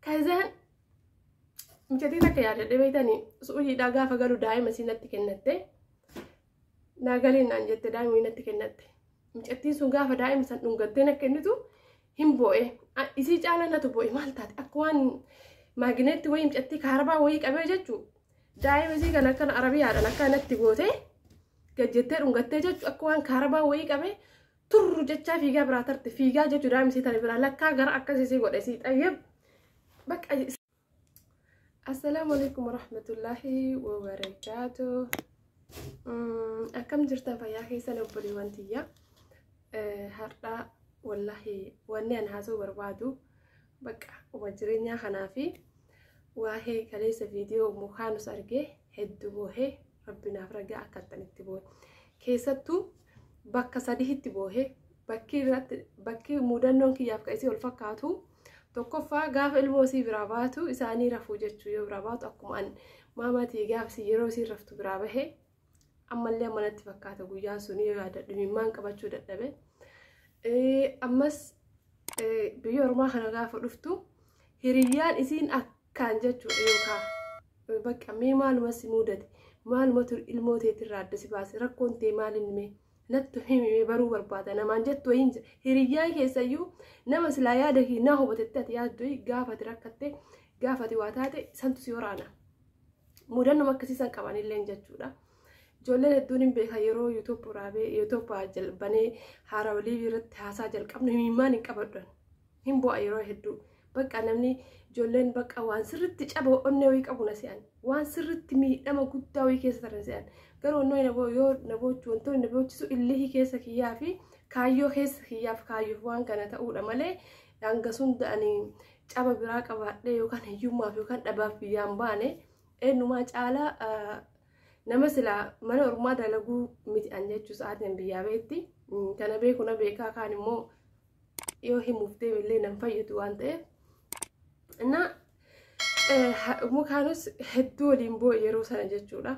Kazaan mucatii takka yaadadhe beektanii su'uujiidhaa gaafa galu daa'ima isii natti kennatte naa galiin naan jette daa'ima natti kennatte mucattiin sun gaafa daa'ima san dhungattee na kennitu hin boo'e isii caalaa natu boo'e maal taate akka waan maagineetti wayii mucattii kaarabaa wayii qabee jechuu daa'ima isii kan akkana arabiyaadhaan akka natti gootee gajjettee dhungattee jechuu akka waan kaarabaa wayii qabee turru jechaa fiigaa biraa tarte fiigaa jechuu daa'imni sii tare biraa lakkaa gara akkasii sii godhe sii xayyab bakka assalaamu alaikum warahmatullaahi wabarakaatu akkam jirtan fayyaa keessan obboleewwan tiyya har'aa wallaahi wanni an haasoo barbaadu bakka uma jireenyaa kanaa fi waa'ee kaleessa viidiyoo mukaanus argee hedduu boohee rabbi naaf ragaa akka attan itti boohe keessattuu bakka sadihitti boohe bakki irratti bakki muudannoon kiyyaaf ka isii ol fakkaatu tokkoffaa gaafa ilmoo isii biraa baatu isaanii rafuu jechuu yoo biraa baatu akkuma an maamaatii gaafsi yeroo isiin raftu biraa bahe ammallee manatti fakkaata guyyaan sun yoo yaadadhu imimmaan qabachuu dadhabe ammas biyya ormaa kana gaafa dhuftu hiriyyaan isiin akka kaan jechuudha yookaan bakka mee maaluma si muudate maalumatu ilmoo teetirraa adda si baase rakkoon tee maalin mee nattu himi mee baruu barbaada namaan jettu wayiin jira hiriyyaa keessayyuu nama silaa yaada kee naa hubatetti ati yaaddu gaafati rakkatte gaafati waa taate santu si waraana mudannuma akkasii san qabanillee jechuudha. Ijoolleen hedduun hin beekan yeroo yuutuubii raabee yuutuubii jalbanee haarawalii irratti haasaa jalqabnu himimmaan hin qabadhan. hin bu'a yeroo hedduu bakka namni ijoolleen bakka waan sirritti caba onnee wayii qabu na se'an waan sirritti miidhama guddaa wayii keessa taran se'an garuu onnee na boo yoo na boochu wantoonni na boochisu illihii keessa kiyyaa fi kaayyoo keessa kiyyaaf kaayyoof waan kana ta'uudha malee hanga sunda'anii caba biraa qabaadhee yookaan hiyyummaaf yookaan dhabaaf biyyaan baane eenyumaa caalaa nama silaa mana ormaa dalaguu miti an jechuu sa'aatiin biyyaa beetti kana beeku na beekaa kaan immoo yoo himuuf deeme illee nan fayyadu waan ta'eef na mukaanus hedduu waliin boo'e yeroo sana jechuudha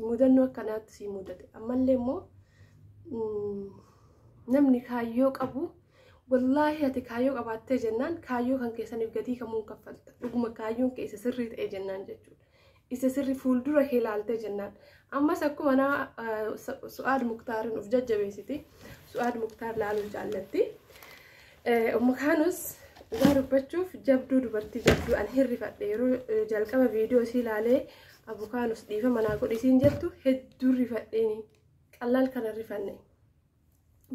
mudannoo akkanaatti sii mudate ammallee immoo namni kaayyoo qabu wallaahi ati kaayyoo qabaattee jennaan kaayyoo kan keessaniif gatii kamuun kaffalta dhuguma kaayyoon keessa sirrii ta'e jennaan jechuudha isa sirri fuuldura kee laaltee jennaan ammas akkuma nama su'aad muktaariin of jajjabeessiti su'aad muktaar laaluu jaallatti umma kaanus dhugaa dubbachuuf jabduu dubartii jabduu an hirrifadhe yeroo jalqaba viidiyoo isii laalee abu kaanus dhiifa manaa godhisiin jettu hedduu rifadheeni qallaal kana rifanne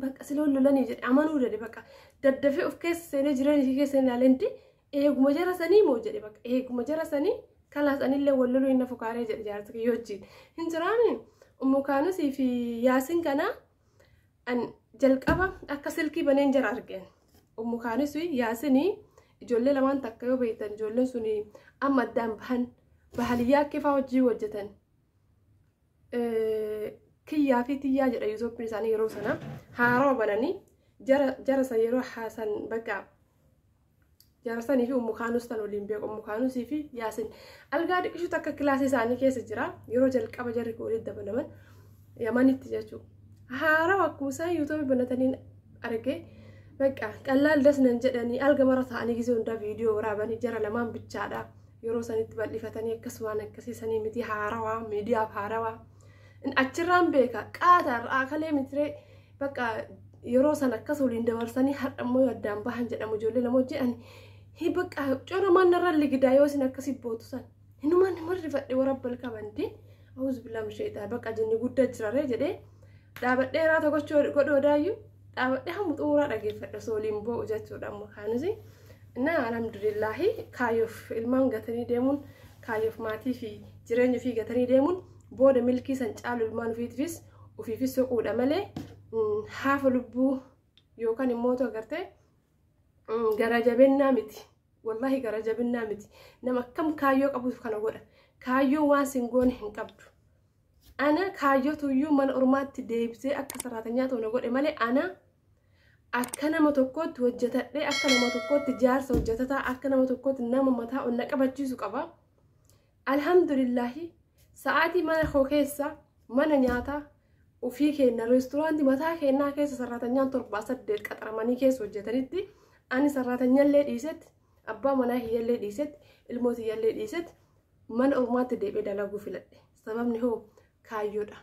bakka siloon lolanii jedhe amanuu dade bakka daddafee of keessa seenee jireenya isii keessa hin laalee Eeguma jara sanii moo jedhe bakka eeguma jara sanii kalaas anillee wal loluu inni fukaaree jedhe jaarsa kiyya wajjin. Hin jiraame ummu kaanusii fi yaasin kana an jalqaba akka silkii baneen jara argeen. Ummu kaanusii yaasinii ijoollee lamaan takka yoo beektan ijoolleen sun amma addaan bahan bahaliyyaa kifaa hojii hojjetan. Kiyyaa fi tiyyaa jedha yuutooppiin isaanii yeroo sana haarawa bananii jara san yeroo haasan bakka Jaarsanii fi ummu kaanus tan waliin beeku ummu kaanusii fi yaasin algaa dhiqishuutu akka kilaasii isaanii keessa jira yeroo jalqaba jarri kun walitti dabalaman yamanitti jechuudha. Haarawa akkuma isaan yuutuubii banataniin arge bakka qallaal das nan jedhanii alga mara ta'anii gisee hundaa viidiyoo waraabanii jara lamaan bichaadha yeroo sanitti bal'ifatanii akkasumaan akkasii sanii miti haarawaa miidiyaaf haarawaa Achirraan beeka qaata irraa kalee mitiree bakka yeroo san akkas waliin dabarsanii har'a immoo yoo addaan bahan jedhamu ijoollee lama hojii ani hi bakka cora mannarra ligidaa yoo isin akkasi bootu san hinumaan nama rifadhe warabbal qabanti awuz billaam sheetaa bakka jinni guddaa jiraree jedhee dhaabadhee raata gochuu godhoo daayyu dhaabadhee hamma xumuraa dhageeffadha osoo waliin boo'u jechuudha amma kaanusi na alhamdulillaahi kaayoof ilmaan gatanii deemuun kaayoof maatii fi jireenya ofii gatanii deemuun booda milkii san caalu ilmaan ofiitiifis ofiifis soquudha malee haafa lubbuu yookaan immoo otoo agartee gara jabeennaa miti wallaahi gara jabeennaa miti nama akkam kaayyoo qabuuf kana godha kaayyoo waan sin goone hin qabdu Ana kaayyotu iyyuu mana ormaatti deebisee akka saraatanyaa ta'u na godhe malee ana akka nama tokkootti hojjetadhee akka nama tokkootti jaarsa hojjetataa akka nama tokkootti nama mataa ol na qabachiisu qaba. Alhamdulillaahi sa'aatii mana koo keessa mana nyaataa ofii keenna reesturaantii mataa keennaa keessa sarratanyaan torbaa saddeet qaxaramanii keessa hojjetanitti ani sarratanyallee dhiisetti abbaa manaa kiyyallee dhiisetti ilmoo tiyyallee dhiisetti mana ormaatti deebi'ee dalaguu filadhe. Sababni hoo kaayyoodha.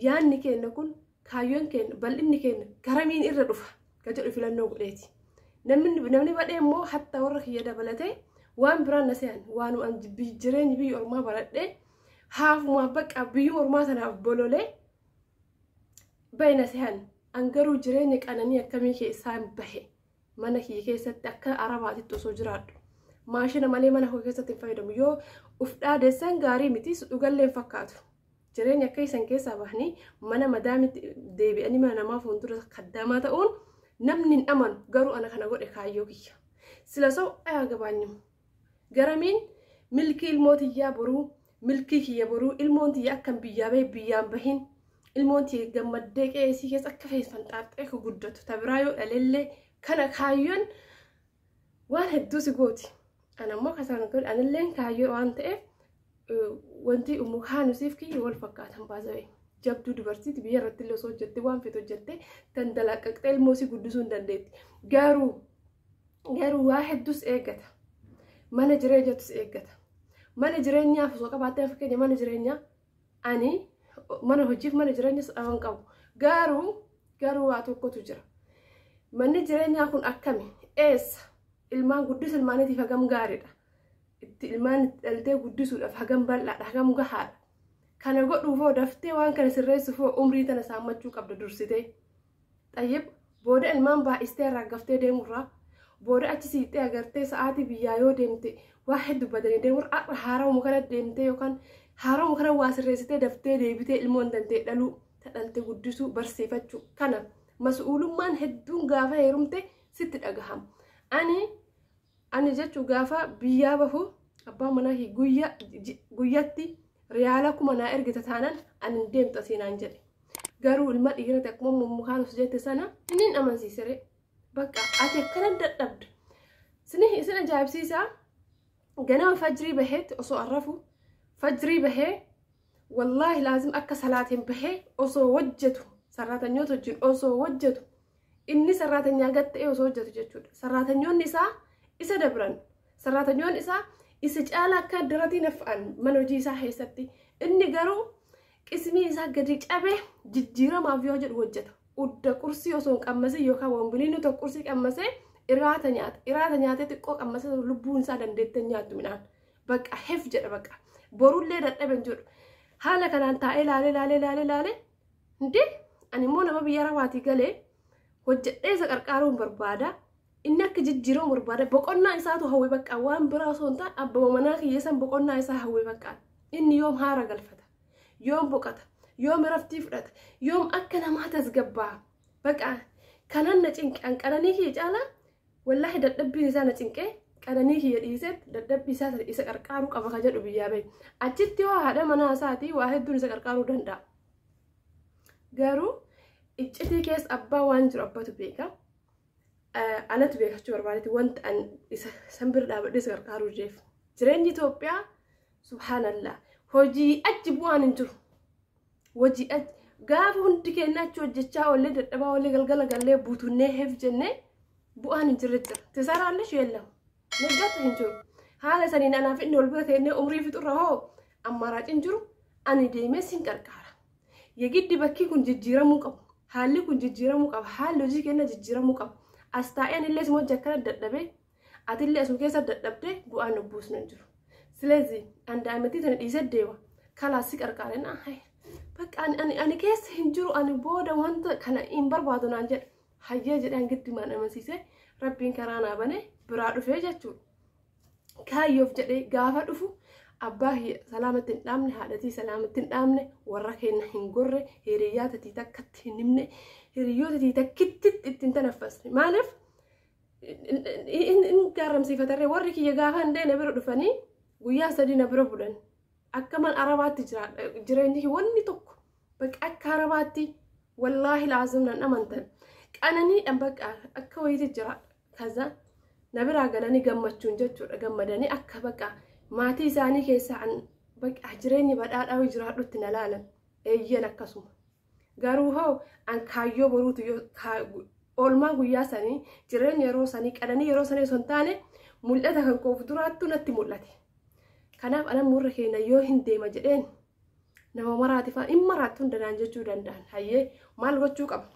Yaanni keenya kun kaayyoon keenya bal'inni keenya garamiin irra dhufa kan jedhu filannoo godheeti. Namni badhee immoo hatta warra kiyya dabalatee waan biraan na se'an waan jireenyi biyya ormaa baradhee haafumaaf bakka biyya ormaa sanaaf bololee bahe na se'an. An garuu jireenya qananii akkamii keessaan bahe mana kiyya keessatti akka arabaatitti osoo jiraadhu maashina malee mana koo keessatti hin fayyadamu yoo uf dhaadessan gaarii miti dhugallee hin fakkaatu jireenya akka isan keessaa bahanii mana madaamitti deebi'anii mana namaa fuuldura kaddaamaa ta'uun namni hin amanu garuu ana kana godhe kaayyoo kiyya sila sa'u ayaa gabaanyimu Garamiin milkii ilmoo tiyyaa boruu milkii kiyya boruu ilmoon tiyya akkan biyyaa bahe biyyaan bahin ilmoon tiyya gammaddee qe'ee isii keessa akka fees fanxaaxxee akka guddatu ta biraa yoo dhalellee kana kaayyoon waan hedduu si gooti. Ana immoo kasaan kun anilleen kaayyoo waan ta'eef wanti ummu kaanusiif kiyya wal fakkaatan baasa'e. Jabduu dubartiiti biyya irratti illee osoo hojjette waan feetu hojjette tan dalaqqaqxee ilmoo isii guddisuu hin dandeetti. Garuu garuu waa hedduus eeggata mana jireenyattis eeggata mana jireenyaaf osoo qabaattee fakkeenya mana jireenyaa ani mana hojiif mana jireenyas dhaban qabu garuu garuu waa tokkotu jira manni jireenyaa kun akkami eessa ilmaan guddisa ilmaaniitiif hagam gaariidha itti ilmaan itti dhaltee guddisuudhaaf hagam bal'aadha hagam gahaadha kana godhuufoo daftee waan kana sirreessuufoo umrii tana saammachuu qabda dursitee Xayyib booda ilmaan baay'istee raaggaftee deemurraa booda achi siixxee agartee sa'aatii biyyaa yoo deemte waa hedduu badanii deemur har'a haaramu kana deemtee yookaan haaramu kana waa sirreessitee daftee deebitee ilmoon dantee dhaluu tadhalte guddisuu barsiifachuu kana mas'uulummaan hedduun gaafa heerumte sitti dhagahama. Ani Ani jechu gaafa biyyaa bahu abbaa manaa kee guyya ji- guyyatti riyaala kuma naa ergita taanan ani hin deemtu asii naan jedhe. Garuu ilma dhiirati akkuma mummukaan of jette sana inni hin amansiisere. Bakka ati akkana dadhabda. Sini isin ajaa'ibsiisaa ganama fajrii baheetti osoo arrafu fajrii bahee wallaahi laazim akka salaatiin bahee osoo hojjetu sarraatanyoota wajjin osoo hojjetu Inni sarraatanyaa gad ta'ee osoo hojjetu jechuudha. Sarraatanyoonni isaa isa dabran. Sarraatanyoonni isaa isa caalaa akka daratii naf'an mana hojii isaa keessatti. Inni garuu qismii isaa gadi cabee jijjiiramaaf yoo jedhu hojjeta. Udda qursii osoo hin qammasin yookaan wanguniinuu tokko qursii qammasee iraata nyaata. Iraata nyaatee xiqqoo qammasee lubbuun isaa dandeettee nyaattu midhaan. Bakka hef jedha bakka. Borullee dadhabe hin jedhu. Haala kanaan taa'ee laalee laalee laalee laalee Hundee ani immoo nama biyya arabaatii galee hojjedhee isa qarqaaruun barbaada. Inni akka jijjiiramu barbaada. Boqonnaa isaatu hawwe bakka waan biraa osoo hin taane abbaa manaa kiyya san boqonnaa isaa hawwe bakka. Inni yoom haara galfata. Yoom boqata. Yoom iraftii fudhata. Yoom akka namaa tasgabbaa. Bakka kanan na cinqe an qananii kiyya caalaa wallaahi dadhabbiin isaa na cinqee qananii kiyya dhiisee dadhabbii isaa isa qarqaaruu qaba ka jedhu biyyaa bahe. Achitti hoo haadha manaa isaatii waa hedduun isa qarqaaruu danda'a. garuu iccitii keessa abbaa waan jiru abbatu beeka anatu beekachuu barbaadetti wanta an isa san bira dhaabadhee isa gargaaruu jeef jireenyi Itoophiyaa subhaanallah hojii achi bu'aan hin jiru hojii achi gaafa hundi keenya achi hojjechaa oollee dadhabaa oollee galgala gallee buutunnee heef jennee bu'aan hin jirre jira tisaraallee sheellamu Mijjatu hin jiru. Haala saniin anaa fi inni wal bira teennee umrii fixurra hoo ammaaraaciin jiru ani deemee sin qarqaara. Yegiddi bakkii kun jijjiiramuu qabu. Haalli kun jijjiiramuu qaba. Haalli hojii keenya jijjiiramuu qaba. As taa'een illee suma hojii akkana dadhabee atillee asuma keessa dadhabdee bu'aan obbuus hin jiru. Silezi an daa'imattii tana dhiisee deema. Kalaas si qarqaare naa haye. Bakka ani, ani, ani keessa hin jiru ani booda wanta kana hin barbaadu naan jedhe. hayyee jedhaan giddumaan amansiisee rabbiin karaa naa banee biraa dhufee jechuudha. Kaayyoof jedhee gaafa dhufu abbaa kiyya salaamatti hin dhaabne haadhatii salaamatti hin dhaabne warra keenya hin gorre hiriyyaa tatii takkatti hin himne hiriyyoota tatii takkitti ittiin tanaffasne maaliif hin gaarramsiifatarree warri kiyya gaafa hin deene bira dhufanii guyyaa sadii na bira bulan akka man arabaatti jiraadha jireenyi wanni tokko Bakka akka arabaatti wallaahi laazim nan amantan. Qananiidhaan bakka akka wayiiti jira. Kaza na biraa galanii gammachuun jechuudha. Gammadanii akka bakka maatii isaanii keessaa bakka jireenyi badhaadhaa jiraadhutti na laalan. Eeyyan akkasuma. Garuu hoo an kaayyoo boruutu oolmaa guyyaa sanii jireenya yeroo sanii qananii yeroo sanii osoo hin taane mul'ata kan koof duraattu natti mul'ate. Kanaaf anammoo irra keenya yoo hin deema jedheen nama maraati fa'a hin maraatti hunda naan jechuu danda'an hayyee maal gochuu qaba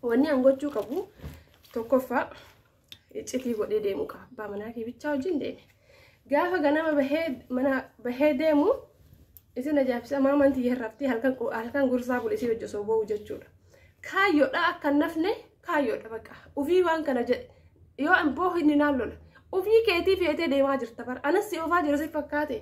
wanni an gochuu qabu tokkoffaa iccitii godhee deemuu qaba abbaa manaa kee bichaa wajjin deeme gaafa ganama bahee mana bahee deemu isin ajaa'ibsa maamaan tiyya irratti halkan qu- halkan gursaa bule isii hojii osoo ba'u jechuudha kaayyoodha akka hin nafne kaayyoodha baqa ufii waan kana jedhe yoo an boohu inni naan lola ufii keetii feetee deemaa jirta bara anas si oofaa jira si fakkaate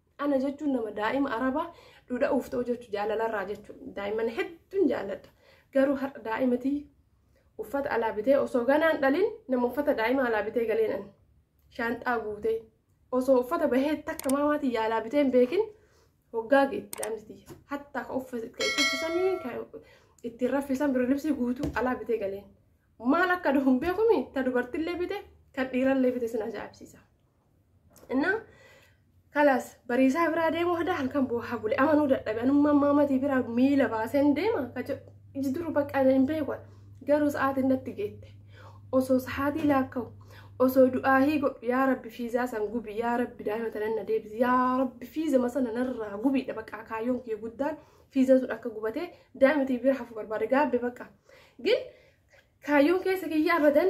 Ana jechuun nama daa'ima arabaa dhudha'uuf ta'u jechuun jaalalarraa jechuun daa'imman hedduun jaalladha. Garuu har'a daa'imatii uffata alaa bitee osoo ganaan dhalin nama uffata daa'ima alaa bitee galeenan shaanxaa guutee osoo uffata bahee takka maamaatiin yaalaa bitee hin beekin hoggaa geetti daa'imti hattaa ka uffata itti uffisanii ka ittiin raffisan birri libsii guutuu alaa bitee galeen maal akka duhu hin beekumi ta dubartillee bite kan dhiirallee bite sin ajaa'ibsiisa. እና kalas bariisaa biraa deemuu hadaa halkan boohaa bule amanuu dadhabe anummaa maamatii biraa miila baaseen deema iji duru bakka ana hin beeku garuu sa'aatiin natti geette osoo sa'aatii laakka'u osoo du'aahii godhu yaa rabbi fiizaa san gubi yaa rabbi daa'ima tanan na deebisi yaa rabbi fiiza masana narraa gubiidha bakka kaayyoon kiyya guddaan fiizan sun akka gubatee daa'imati bira hafu barbaade gaabbe bakka gin kaayyoon keessa kiyya abadan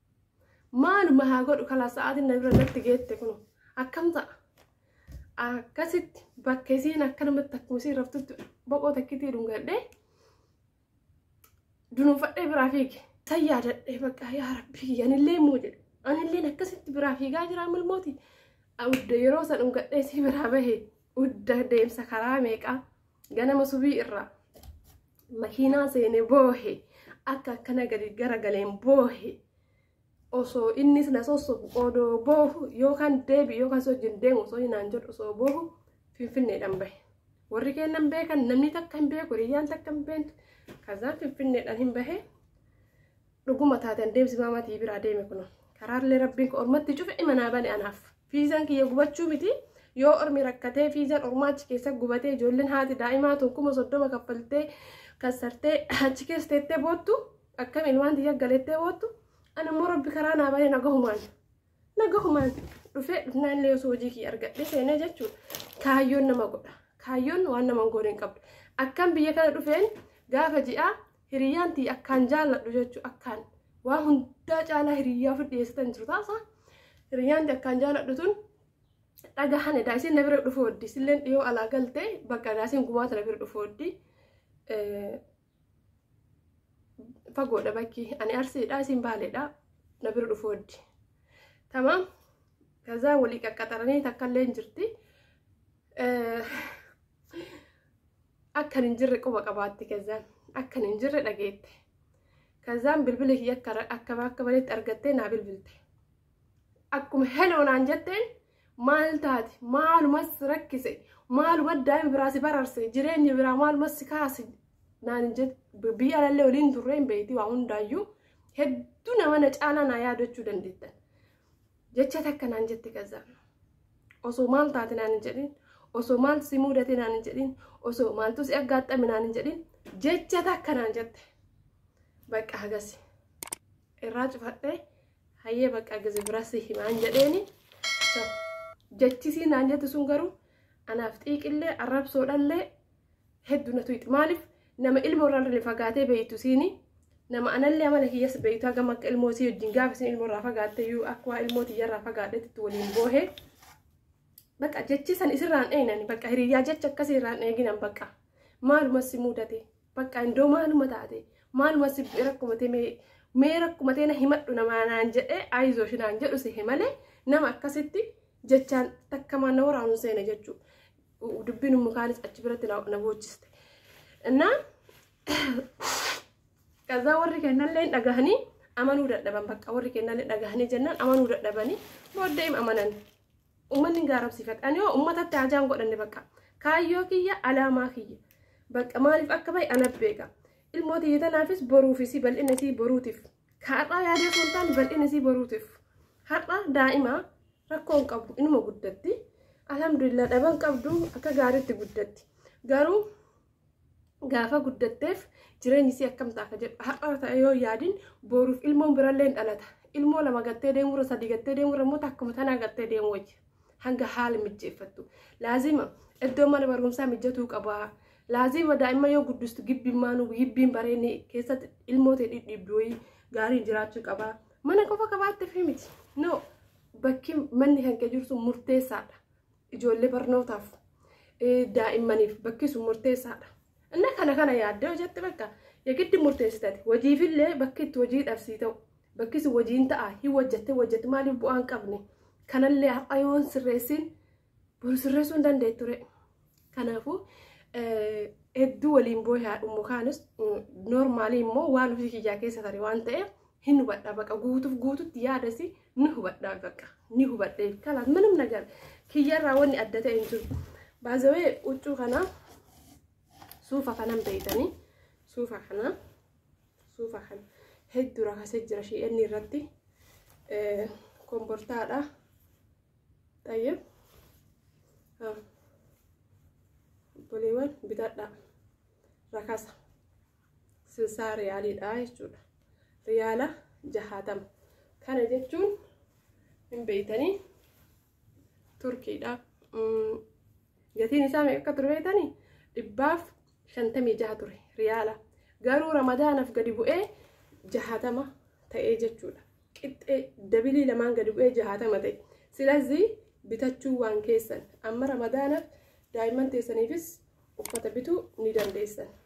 maaluma haa godhu kala sa'aatiin na bira natti geette kun akkam ta'a akkasitti bakka isiin akkanumatti akkuma isiin raftutti boqoo takkitii dhungadhee dunuunfadhee biraa fiige san yaadadhee bakka yaa rabbii yanillee immoo jedhe anilleen akkasitti biraa fiigaa jiraa milmooti udda yeroo san dhungadhee isii biraa bahe udda deemsa karaa meeqaa Ganama subii irraa makiinaa seene boohe akka akkana gadi garagaleen boohe osoo innis na sossobu odoo boohu yookaan deebi yookaan si wajjin deemu osoo hinaan jedhu osoo boohu finfinneedhaan bahe. Warri kennan beekan namni takka hin beeku hiriyyaan takka hin beektu. Kazaan finfinneedhaan hin bahe. dhuguma taate an deemsi maamaa tiyya biraa deeme kuno karaarlee rabbiin ka ormatti cufe imanaa bane anaaf fiizaan kiyya gubachuu miti yoo ormi rakkatee fiizaan ormaa achi keessa gubatee ijoolleen haati daa'imaa tun kuma soddoma kaffaltee kassartee achi keessa teettee boottu akkam ilmaan tiyya galeettee boottu an ammoo rabbi karaa naa banee nagahumaan Nagahumaan dhufee dhufnaan illee osoo hojii kiyya argadhee seenee jechuudha. Kaayyoon nama godha. Kaayyoon waan nama hin goone hin qabdu. Akkan biyya kana dhufeen gaafa ji'aa hiriyyaan tiyya akkaan jaalladhu jechuudha. Akkaan waan hundaa caalaa hiriyyaa ofi dhiyeessitan jiru taasa. Hiriyyaan tiyya akkaan jaalladhu tun dhagahan edaa isin na bira dhufu hoddi. Isilleen dhiyoo alaa galtee bakka edaa isin gumaata na bira dhufu hoddi. fagoodha bakki ani arsiidha isin baaleedha na bira dhufu waddi tamaam kazaa walii qaqqaxaranii takkallee hin jirti akkan hin jirre quba qabaatti kazaan akkan hin jirre dhageette kazaan bilbila kiyya akka akka banetti argattee naa bilbilte akkuma heloo naan jetteen Maal taate? Maalumas rakkise? Maaluma daa'ima biraa si bararse? Jireenya biraa maalumas si kaase? Naan hin jette biyya alallee waliin turree hin beekti waa hundaayyuu hedduu nama na caalaa naa yaadachuu dandeettan. Jecha takka naan jette gazzaan. Osoo maal taate naan hin jedhin? Osoo maal si mudate naan hin jedhin? Osoo maaltu si aggaaxxame naan hin jedhin? Jecha takka naan jette. Bakka hagasi. irraa cufadhe hayyee baqqaa gizi biraa si himaan jedheeni jechisii naan jette sun garuu anaaf xiiqillee arrabsoodhallee heddu natu itti maaliif nama ilmoo irraa illee fagaatee beeytu siini nama anallee amala kiyyas beeytu hagam akka ilmoo sii wajjin gaafa isin ilmoo irraa fagaatte iyyuu akka waa ilmoo tiyya irraa fagaadhetti waliin boohee bakka jechi san isirraan eeynani bakka hiriyyaa jecha akkasii irraan eeginan bakka maaluma si mudate Bakka indoo maaluma taate maaluma si bu'e rakkuma tee mee mee rakkuma tee na himadhu namaa naan jedhee ayizosh naan jedhu sehe malee nama akkasitti jechaan takkamaan na waraanu seene jechuu dubbiin ummu kaanis achi biratti na na boochiste. Innaa kazaa warri kennallee hin dhagahanii amanuu dadhaban bakka warri kennallee dhagahanii jennaan amanuu dadhabanii booddee hin amananii. Ummanni hin gaarabsiifadha. Ani hoo ummatatti haajaa hin godhanne bakka. Kaayyoo kiyya alaamaa kiyya. Bakka maaliif akka bahe ana beeka. Ilmoo tiyya tanaafis boruuf isii bal'ina isii boruutiif. Ka har'aa yaadee osoo hin taane bal'ina isii boruutiif. Har'a daa'ima rakkoo hin qabu inuma guddatti. Alhamdulillah dhaban qabdu akka gaariitti guddatti. Garuu gaafa guddatteef jireenyi isii akkam ta'a ka jedhu har'a ta'e yoo yaadin booruuf ilmoon birallee dhalata ilmoo lama gattee deemurra sadii gattee deemurra immoo takkuma tanaa gattee deemu wayya hanga haala mijjeeffattu laazima iddoo mana barumsaa mijatuu qabaa laazima daa'imman yoo guddistu gibbimmaan gibbiin bareedni keessatti ilmoo ta'e dhidhiibbi wayii gaariin jiraachuu qabaa mana qofa qabaatte fi miti no bakki manni kan kee jirtu murteessaadha ijoollee barnootaaf daa'immaniif bakki sun murteessaadha. Inni kana kana yaaddee hojjette bakka yegiddi murteessitati hojiifillee bakki itti hojii dhabsii ta'u bakki sun hojiin ta'a hin hojjette hojjette maaliif bu'aan qabne kanallee har'a yoon sirreessiin boru sirreessuu hin danda'e ture. Kanaafuu hedduu waliin booyaa dhummu kaanis noormaalii immoo waan ofii kiyyaa keessa tare waan ta'eef hin hubadha baqa guutuuf guututti yaadasi ni hubadha baqa ni hubadhe kalaas minum nagar kiyyarraa wanni adda ta'e hin jiru baazawee huccuu kana suufa kanan beeytanii suufa kana suufa kana hedduu rakasee jira shi'eenni irratti kombortaadha tayyib boleewwan bitadha rakasa silsaa riyaaliidha jechuudha riyaala jahaatama kana jechuun hin beeytanii turkiidha gatiin isaa meeqa akka ture beeytanii dhibbaaf shantamii jaha ture riyaala garuu ramadaanaaf gadi bu'ee jahaatama ta'ee jechuudha qixxee dabilii lamaan gadi bu'ee jahaatama ta'e silazii bitachuu waan keessan amma ramadaanaaf daa'imman teessaniifis uffata bituu ni dandeessan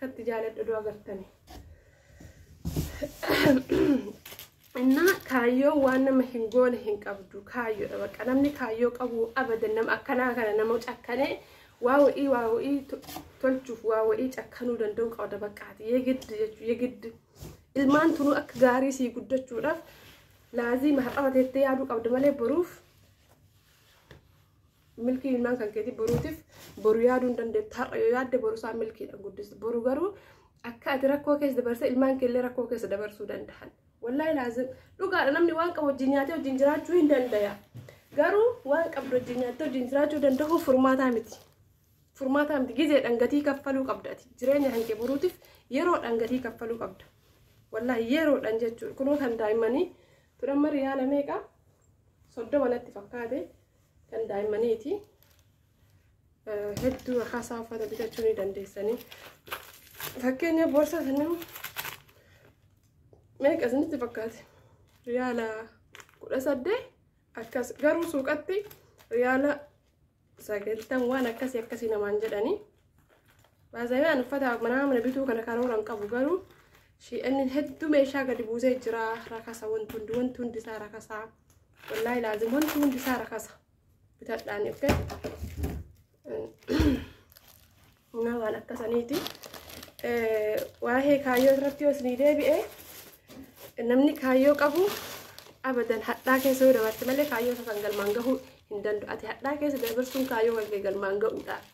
Katti jaaladhu odoo agartanii. Innaa kaayyoo waan nama hin goone hin qabdu kaayyoodha bakka namni kaayyoo qabu abadan nama akkanaa kana nama cakkanee waa wa'ii waa wa'ii to- tolchuuf waa wa'ii cakkanuu danda'u qabda bakkaati yegid jechuu yegid ilmaan tunuu akka gaarii sii guddachuudhaaf laazii mahar'ama teettee yaaduu qabda malee boruuf Milkii ilmaan kan keetii boruutiif boru yaaduu hin dandeettu. Har'a yoo yaadde boru isaa milkiidhaan guddistu. Boru garuu akka ati rakkoo keessa dabarsee ilmaan keellee rakkoo keessa dabarsuu danda'an. Wallaahi laazim dhugaadha namni waan qabu wajjin nyaatee wajjin jiraachuu hin dandaya. Garuu waan qabdu wajjin nyaattee wajjin jiraachuu danda'uuf furmaataa miti. Furmaataa miti gizeedhaan gatii kaffaluu qabda ati. Jireenya kan kee boruutiif yeroodhaan gatii kaffaluu qabda. Wallaahi yeroodhaan jechuudha. Kunoo kan daa'immanii turan mari yaala meeqa? Soddoma natti fakkaate. kan daa'immaniiti hedduu akkaasaa uffata bitachuu ni dandeessanii fakkeenya boorsaa kan nama meeqa isinitti fakkaate riyaala kudha saddeet akkas garuu suuqatti riyaala sagaltan waan akkasii akkasii namaan jedhanii Baazayee an uffata manaa mana bituu kana karoora hin qabu garuu shi'anni hedduu meeshaa gadi buusee jira rakasa wanti hundi wanti hundi isaa rakasa wallaahi laazim wanti hundi isaa rakasa bitadhaan dhufe na waan akkasaniiti waa'ee kaayyoo irratti yoo isinii deebi'e namni kaayyoo qabu abadan hadhaa keessa yoo dabarte malee kaayyoo isa san galmaan gahuu hin danda'u ati hadhaa keessa dabarsuun kaayyoo kan kee galmaan ga'uudhaaf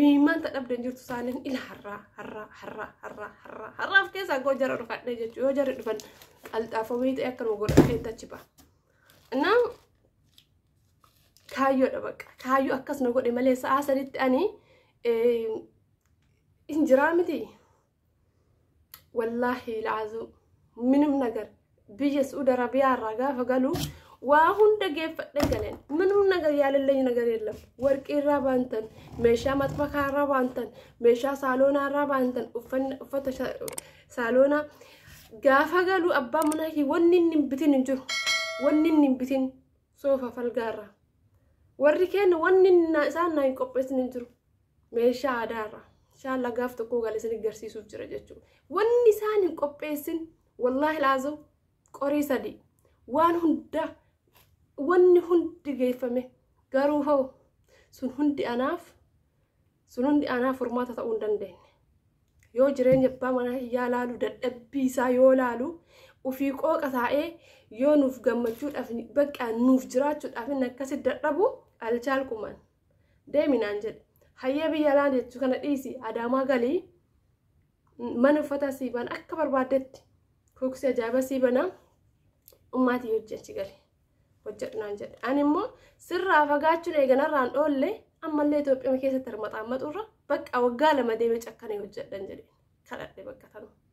Imimmaan ta dhabde hin jirtu saaleen ila harraa harraa harraa harraa harraa harraaf keessaa goo jara dhufadhee jechuu yoo jarri dhufan qalxaafoo beeytee akka nu godhadhee tachi ba'a. Innaa kaayyoodha baqa kaayyoo akkas na godhe malee sa'aa saditti ani hin jiraa miti wallaahi il'aazuu minim nagar biyya su'uud arabiyaa irraa gaafa galu waa hunda geeffadhe galeen minim nagar yaalillee nagar yeellam warqii irraa baantan meeshaa maxbakaa irraa baantan meeshaa saaloonaa irraa baantan uffanna- uffata sha- saaloonaa gaafa galu abbaa manaa kee wanni inni hin bitin hin jiru wanni inni hin bitin soofa falgaa irraa warri keenya wanni na- isaan naa hin qopheessin hin jiru meeshaa aadaa irraa inshaallaa gaaf tokkoo gale isin garsiisuuf jira jechuudha wanni isaan hin qopheessin wallaahi laazim qorii sadii waan hunda wanni hundi geeffame garuu hoo sun hundi anaaf sun hundi anaaf furmaata ta'uu hin dandeenye yoo jireenya abbaa manaa kiyyaa laalu dadhabbii isaa yoo laalu ofii qooqa taa'ee yoo nuuf gammachuudhaaf bakka nuuf jiraachuudhaaf inni akkasi dadhabu alchaalqumaan deemi naan jedhe hayyee biyya alaa jechuu kana dhiisi adaamaa galii mana uffataa sii bana akka barbaaddetti kuuksi ajaa'ibaa sii bana ummaatii hojii achi gali hojjedhu naan jedhe ani immoo sirraa fagaachuun eeganarraan dhoolle ammallee Itoophiyaa keessatti hirmaxaammaxuurra bakka waggaa lama deemee cakkanee hojjedhan jedhe kadhadhe bakka tanuma.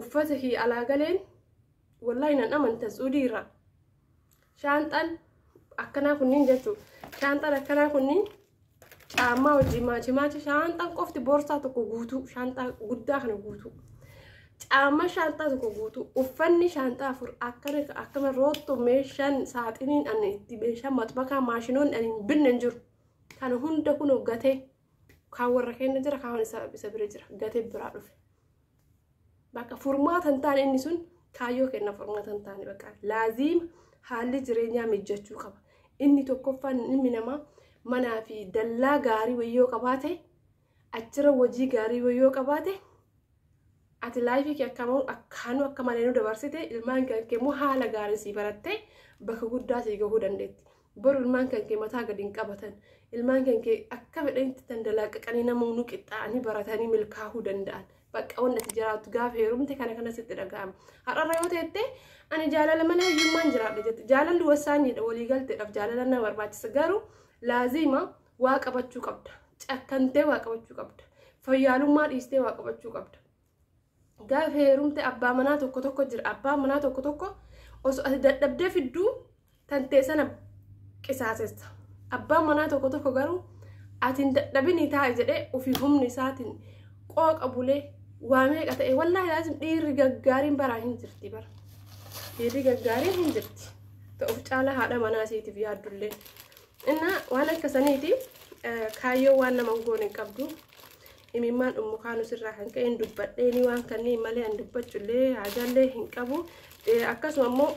uffata kiyya alaa galeen wallahi nan amanta suudii irraa shaanxaan akkanaa kunniin jechuun shaanxaan akkanaa kunniin caammaa wajjin maachi maachi shaanxaan qofti boorsaa tokko guutuu shaanxaa guddaa kana guutuu caammaa shaanxaa tokko guutuu uffanni shaanxaa afur akkana akkana rootto meeshaan saaxiniin ani itti meeshaa maxbakaa maashinoonni ani hin binne hin jiru kana hunda kunoo gatee kaan warra keenya jira kaan isa bira jira gatee biraa dhufe. Bakka furmaata hin taane inni sun kaayyoo kenna furmaata hin taane bakka laaziima haalli jireenyaa mijjachuu qaba. Inni tokkoffaan ilmi namaa manaa fi dallaa gaarii wayyoo qabaate achirra hojii gaarii wayyoo qabaate ati laayifii kee akkamoo akkaanuu akka malee nu dabarsite ilmaan kee immoo haala gaarii sii barattee bakka guddaa sii gahuu dandeetti. Boru ilmaan kan kee mataa gadi hin qabatan. Ilmaan kan kee akka fedhanitti dandalaaqaqanii namoonni qixxaa'anii baratanii milkaa'uu danda'an. Bakka wanti ati jiraattu gaafa heerumte kana kana sitti dhaga'ama. Har'arra yoo teette ani jaalala malee hiyyummaan jiraadha jette. Jaalalli wasaanyiidha walii galteedhaaf jaalala na barbaachisa. Garuu laaziima waa qabachuu qabda. Cakkantee waa qabachuu qabda. Fayyaalummaa dhiistee waa qabachuu qabda. gaafa heerumte abbaa manaa tokko tokko jira abbaa manaa tokko tokko osoo ati dadhabdee fidduu tantee sana qisaasessa abbaan manaa tokko tokko garuu ati hin dadhabinii taa'e jedhee ofii humni isaatiin qooqa bulee waa meeqa ta'e wallaahi laasim dhiirri gaggaariin baraa hin jirti bara dhiirri gaggaariin hin jirti ta'uuf caalaa haadha manaa isiitiif yaaddullee innaa waan akka saniiti kaayyoo waan nama hin goone hin qabdu imimmaan ummu kaanus irraa kan ka'een dubbadheeni waan kanneen malee an dubbachullee haajaallee hin qabu akkasuma immoo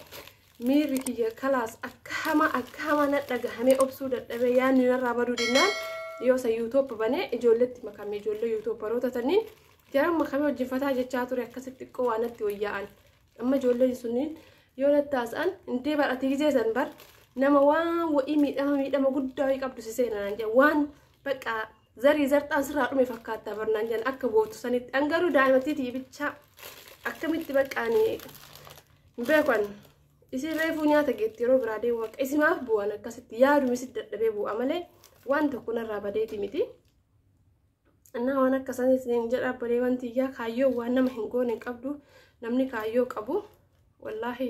miirri kiyya kalaas akka hamaa akka hamaa na dhagahamee obsuu dadhabee yaadni narraa baduu dinnaan yoo isa yuutoop banee ijoolletti makamee ijoollee yuutooparoota taniin jaran makamee wajjin fataa jechaa ture akkasitti xiqqoo waan natti wayyaa'an amma ijoolleen sunniin yoo nattaasaan indee bar ati gizee san bar nama waan wa'ii miidhama miidhama guddaa wa'ii qabdu si seenaan waan baqqaa Zarii zarxaan sirraa dhume fakkaattaa barnaan jedhan akka bootu sanitti an garuu daa'imattiitii bichaa akkamitti baqqaani beekan isin reefuu nyaata geetti yeroo biraa deemu akka isimaaf bu'an akkasitti yaaduma isin dadhabee bu'a malee waan tokko narraa badeeti miti. Annaa waan akka saniis hin jedha bareewan tiyyaa kaayyoo waan nama hin goone hin qabdu namni kaayyoo qabu wallaahi.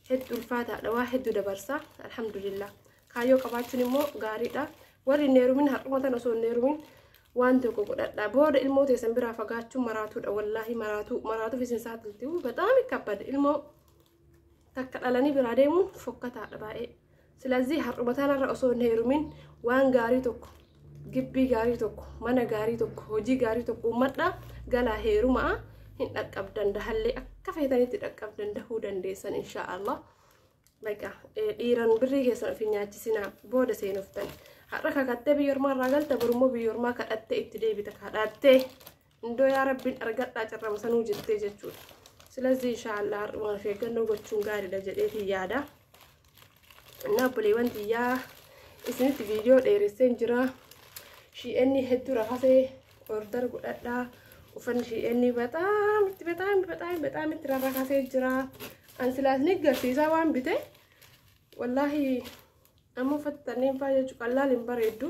heddu ulfaataadha waa heddu dabarsa alhamdulillah kaayyoo qabaachuun immoo gaariidha warri hin heerumin har'uma tan osoo hin heerumin waan tokko godhadha booda ilmoo teessan biraa fagaachuun maraatuudha wallaahi maraatuu maraatuuf isin saaxilti bataami kabbada ilmoo takka dhalanii biraa deemuun fokkataadha baay'ee Silazii har'uma tanarra osoo hin heerumin waan gaarii tokko gibbii gaarii tokko mana gaarii tokko hojii gaarii tokko uummadha galaa heerumaa hin dhaqqabdan dahallee akka feetanitti dhaqqabdan dahuu dandeessan inshaa Allah. Baqa dhiiran birrii keessan ofiin nyaachisinaa booda seenuftan har'a kakattee biyya ormaa irraa galta borummoo biyya ormaa kadhattee itti deebita kadhattee Indoo yaa rabbiin argadhaa carrama sanuu jettee jechuudha. Silazii inshaallah har'umaan of eeggannoo gochuun gaariidha jedheetiin yaada. Innaa obboleewwan tiyyaa isinitti viidiyoo dheeresseen jira. Shi'eenni hedduu rakasee order godhadhaa. Uffanni shi'eenni bataam itti bataam bataam bataam itti rarrakasee jira. An silaas ni garsiisaa waan bite. Wallaahi amma uffattanneen faa jechuun qallaal hin bareeddu.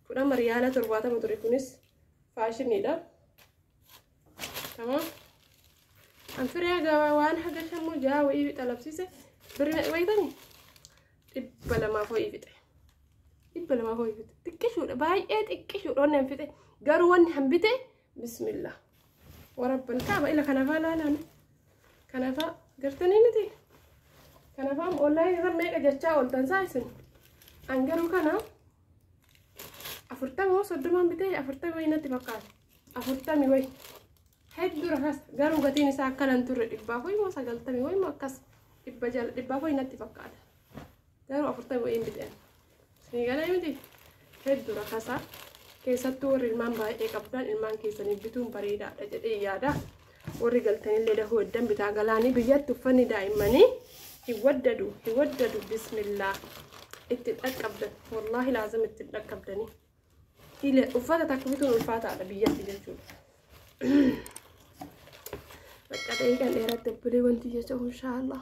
Fudhama riyaala torbaatama ture kunis faashiniidha. Tamam. An firee gabaa waan haga shanmoo jaha wayii xalabsiise birri meeqa beektani? Dhibba lamaaf wayii fixe. Dhibba lamaaf wayii fixe. Xiqqishuudha baay'ee xiqqishuudha wanni an fixe garuu wanni an bite bismillah. Warabban kaaba ila kanafaa laalaan kanafaa gartanii miti. Kanafaa onlaayinii irra meeqa jechaa ooltan saa isin. An garuu kana afurtama hoo soddomaan bitee afurtama wayii natti fakkaata afurtami wayi hedduu rakas garuu gatiin isaa akkana hin turre dhibbaaf wayii moo sagaltami wayii moo akkas dhibba jala dhibbaaf wayii natti fakkaata garuu afurtami wayii hin biteen isinii galee miti hedduu rakasaa keessattuu warri ilmaan baay'ee qabdan ilmaan keessaniif bituun bareedaadha jedhee yaada Warri galtanillee dahuu heddan bitaa galaanii biyyatti uffanni daa'immanii hin waddadu hin waddadu bismillaa itti dhaqqabdan wallaahi laazim itti dhaqqabdanii ile uffata takka bituun ulfaataadha biyyatti jechuudha. Bakka dheekan dheeratti obbolee wanti jecha inshaallah.